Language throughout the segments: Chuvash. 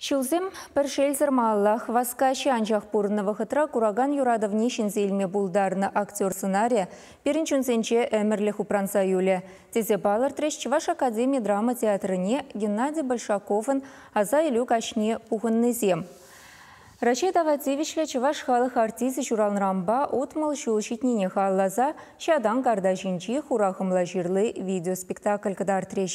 Ҫулсем, пӗр шелсӗр маллах. Васкаҫҫӗ, анчах пурӑннӑ вӑхӑтра куракан юратӑвне ҫӗнсе илме пултарнӑ актер сӑнарӗ пирӗн чунсенче ӗмӗрлӗх упранса юлӗ, тесе палӑртрӗҫ Чӑваш академи драма театрне Геннадий Большаковӑн аса илӳ каҫне пухӑннисем. Раҫҫей тава тивӗҫлӗ чӑваш халӑх артисчӗ ҫуралнӑранпа утмӑл ҫул ҫитнине халласа ҫатан карта ҫинчи хура хӑмла ҫырли видеоспектакль кӑтартрӗҫ.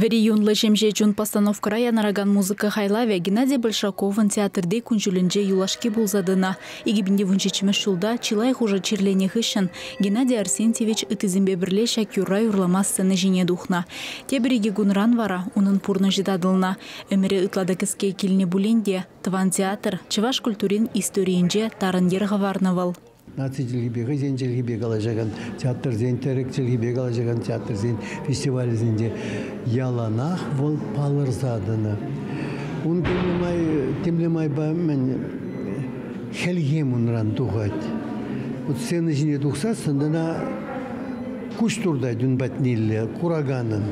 Вӗри юнлӑ ҫемҫе чун постановкӑра янӑракан музыка хайлавӗ Геннадий Большаковӑн театрти кун-ҫулӗнче юлашки пулса тӑнӑ. 2017 ҫулта чылай хушӑ чирленӗ хыҫҫӑн Геннадий Арсентьевич ыттисемпе пӗрле ҫак юрра юрлама сцена ҫине тухнӑ. Тепӗр икӗ кунран вара унӑн пурнӑҫӗ татӑлнӑ. Ӗмӗрӗ ытла та кӗске килнӗ пулин те тӑван театр, чӑваш культурин историйӗнче тарӑн йӗр хӑварнӑ вӑл. наци чӗлхипе хӑйсен чӗлхипе калаҫакан театрсен, тӗрӗк чӗлхипе калаҫакан театрсен фестивалӗсенче яланах вӑл палӑрса тӑнӑ. Ун темле май, темле майпа мӗн хӗлхем унран тухать. Вот сцена ҫине тухсассӑн ӑна Куҫ туртать ун патнелле кураканӑн.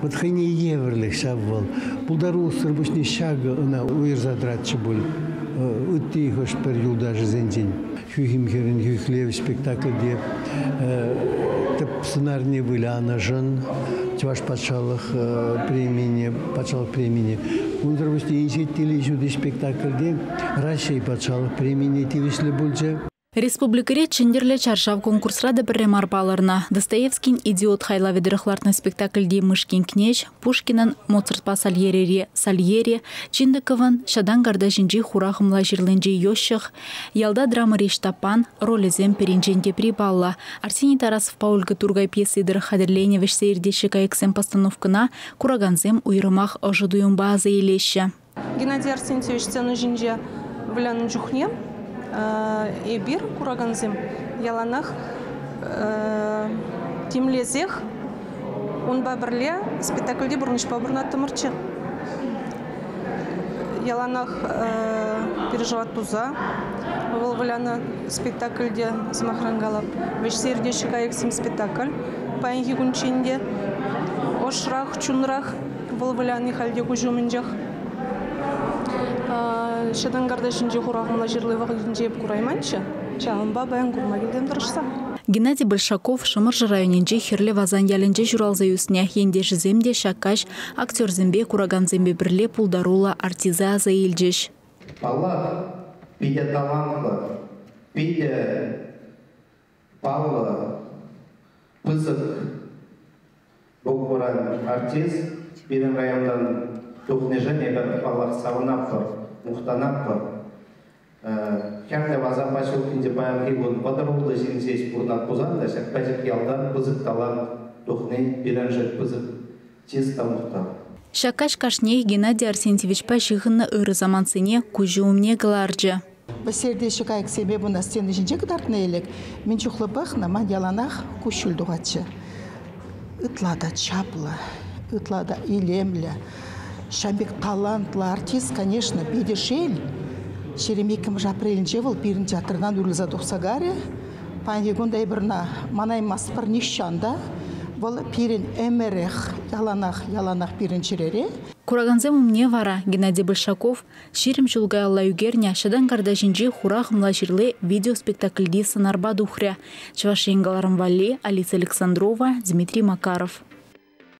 Вӑт хӑйне евӗрлех ҫав вӑл. Пултарулӑхсӑр пуҫне ҫакӑ ӑна уйӑрса тӑратчӗ пуль ытти хӑш-пӗр юлташӗсенчен. Хӳхӗм хӗрӗн хӳхлев спектакльте тӗп сӑнарне вылянӑшӑн Чӑваш патшалӑх премине, патшалӑх премине, унсӑр пуҫне Инҫет телей ҫути спектакльте Раҫҫей патшалӑх премине тивӗҫлӗ пулчӗ. Республикӑри Чӗнтӗрлӗ чаршав конкурсра та пӗрре мар палӑрнӑ Достоевскин «Идиот» хайлавӗ тӑрӑх лартнӑ спектакльти Мышкин кнеҫ Пушкинӑн Моцартпа Сальери, Сальери, Чиндыковӑн Ҫатан картаҫӗнчи хура хӑмла ҫырлинчи Йощах, ялта драмӑри Ҫтаппан ролӗсем пӗринчен тепри паллӑ. Арсений Тарасовпа Ольга Тургай пьеси тӑрӑх хатӗрленӗ вӗҫсе иртеҫҫӗ кайӑксем постановкӑна куракансем уйрӑмах ӑшӑ туйӑмпа аса илеҫҫӗ. Геннадий Арсентьевич сцена ҫинче вылянӑ чухне эпир, куракансем, яланах тимлесех унпа пӗрле спектакльти пурнӑҫпа пурӑнаттӑмӑрччӗ. Яланах переживать туса вӑл вылянӑ спектакльте, сӑмахран калап, вӗҫсе иртеҫҫӗ кайӑксем спектакль паянхи кунччен те ӑшрах, чунрах. Вӑл выляни халь те куҫ умӗнчех. Ҫӑтӑн картишӗнчи хурахӑмла ҫырли вӑхӑтӗнче эп курайманччӗ. Ҫавӑнпа паян курма килтем тӑрӑшса. Геннадий Большаков Шӑмӑршӑ районӗнчи Хӗрлӗ Васан ялӗнче ҫуралса ӳснӗ. Ентешӗсем те ҫак каҫ актерсемпе, куракансемпе пӗрле пултаруллӑ артиста аса илчӗҫ. Паллах, питӗ талантлӑ, питӗ паллӑ, пысӑк букмуран артист пирӗн районтан тухнишӗн эпӗ, паллах, савӑнатпӑр, мухтанатпӑр. Хӗрлӗ Васапа ҫуркинче паянхи кун вӑтӑр ултӑ ҫын ҫеҫ пурӑнать пулсан та ҫак пӗчӗк ялта пысӑк талант тухни пирӗншӗн пысӑк Тез та мухтав. Ҫак каҫ кашниех Геннадий Арсентьевичпа ҫыхӑннӑ ырӑ самантсене куҫӗ умне кӑларчӗ. Вӗсер те ҫӑкайӑксемпе пынӑ стена ҫинче кӑтартнӑ ӗлӗк мӗн чухлӗ пӑхнӑ, ман яланах куҫҫуль тухатчӗ. Ытла та чаплӑ, ытла та илемлӗ. Ҫавӑн пек талантлӑ артист, конечно, питӗ шел. Ҫерем иккӗмӗш апрелӗнче вӑл пирӗн театртан уйрӑлса тухса карӗ. Паянхи кун эпӗрна манаймастпӑр нихҫан та. Вӑл пирӗн ӗмӗрех, яланах, яланах пирӗн чӗрере. Куракансем умне вара Геннадий Большаков ҫирӗм ҫул каялла ӳкернӗ Ҫатан карта ҫинчи хура хӑмла ҫырли видеоспектакльти сӑнарпа тухрӗ. Чӑваш Ен кӑларӑм валли Алиса Александрова, Дмитрий Макаров.